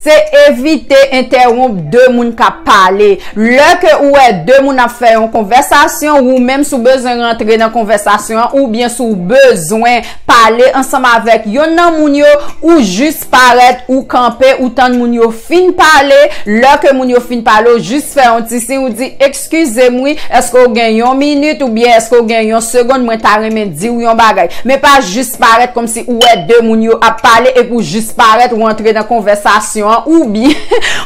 Se evite entèwonp 2 moun kap pale. Lè ke ou wè 2 moun ap fè yon konvèsasyon, ou menm si w bezwen rantre nan konvèsasyon an oubyen si w bezwen pale ansanm avèk yonn nan moun yo, ou jis parèt, ou kanpe, ou tann moun yo fin pale. Lè ke moun yo fin pale, ou jis fè yon ti siy, ou di. Skize m wi, eske w gen yon minit ou byen eske w gen yon segond mwen ta renmen di w yon bagay. Men pa jis parèt kòmsi ou wè de moun yo ap pale epi w jis parèt ou antre nan konvèsasyon an ou byen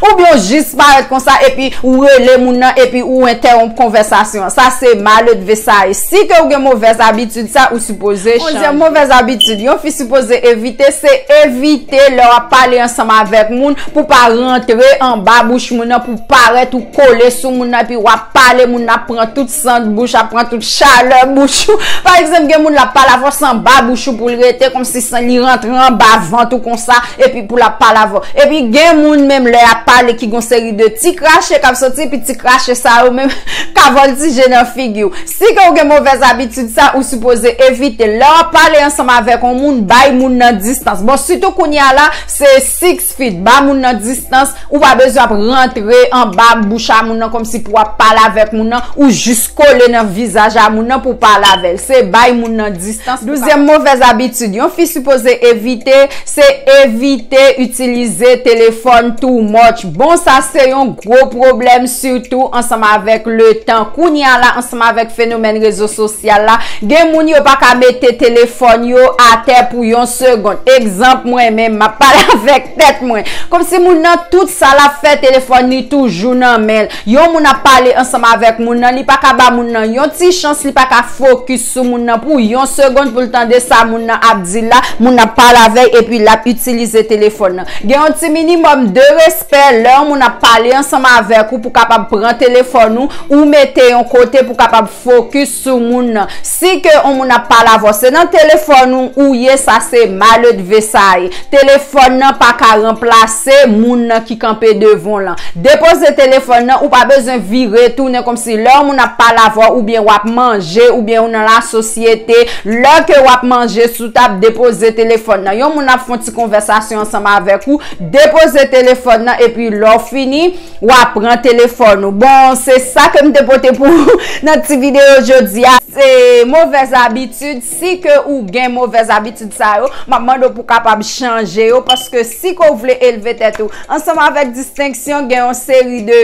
ou byen w jis parèt konsa epi ou rele moun nan epi ou entèwonp konvèsasyon an. Sa se maledve sa ye. Si ke w gen movèz abitid sa ou sipoze chanje. Onzyèm movèz abitid yon fi sipoze evite se evite lè w ap pale ansanm avèk moun pou w pa rantre anba bouch moun nan pou Parèt ou kole sou moun nan epi wap pale moun nan ap pran tout sant bouch, ap pran tout chalè bouch ou. Pa egzanp gen moun lap pale avè w se anba bouch ou pou l rete kòmsi san li rantre anba vant ou konsa epi pou lap pale avè w. Epi gen moun menm lè yap pale ki gon seri de ti krache kap soti epi ti krache sa yo menm ka vòltije nan figi w. Si ke ou gen movèz abitid sa ou sipoze evite l. Lè wap pale ansanm avèk on moun bay moun nan distans. Bon sitou kounye a la se sik Feed ba moun nan distans, ou pa bezwen ap rantre anba bouch a moun nan kòmsi pou ap pale avèk moun nan, ou jis kole nan vizaj a moun nan pou pale avè l. Se bay moun nan distans. Douzyèm movèz abitid yon fi sipoze evite, se evite itilize telefòn too much. Bon sa se yon. Gwo pwoblèm sitou ansanm avèk letan. Kounye a la ansanm avèk fenomèn rezo sosyal la, gen moun yo pa ka mete telefòn yo atè pou yon segond. Egzanp mwen menm, m ap pale avèk tèt mwen. Kòmsi moun nan tout sa l ap fè telefòn li toujou nan men l. Yon moun ap pale ansanm avèk moun nan, li pa ka ba moun nan yon ti chans, li pa ka fokis. sou moun nan pou yon segond pou l tande sa moun nan ap di l la, moun nan pa lavèy epi l ap itilize telefòn nan. Gen yon ti minimòm de respè lè yon moun ap pale ansanm avèk ou pou kapab pran telefòn ou, ou mete yon kote pou kapab fokis sou moun nan. Si ke yon moun ap pale avè w se nan telefòn ou ou ye sa se maledve sa ye. Telefòn nan pa ka ranplase. Se moun nan ki kanpe devan w lan. Depoze telefòn nan, ou pa bezwen vire tounen kòmsi lè yon moun ap pale avè w oubyen wap manje oubyen ou nan lasosyete, lè ke wap manje sou tab, depoze telefòn nan. Yon moun ap fon ti konvèsasyon ansanm avèk ou, depoze telefòn nan epi lè w fini, wa pran telefòn ou. Bon, se sa ke m te pote pou ou nan ti videyo jodi a. Se movèz abitid. Si ke ou gen movèz abitid sa yo, m ap mande w pou kapab chanje yo, paske si ke w vle elve tèt ou ansanm avèk distenksyon, gen yon seri de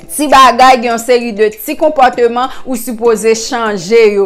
ti bagay, gen yon seri de ti konpòteman ou sipoze chanje yo.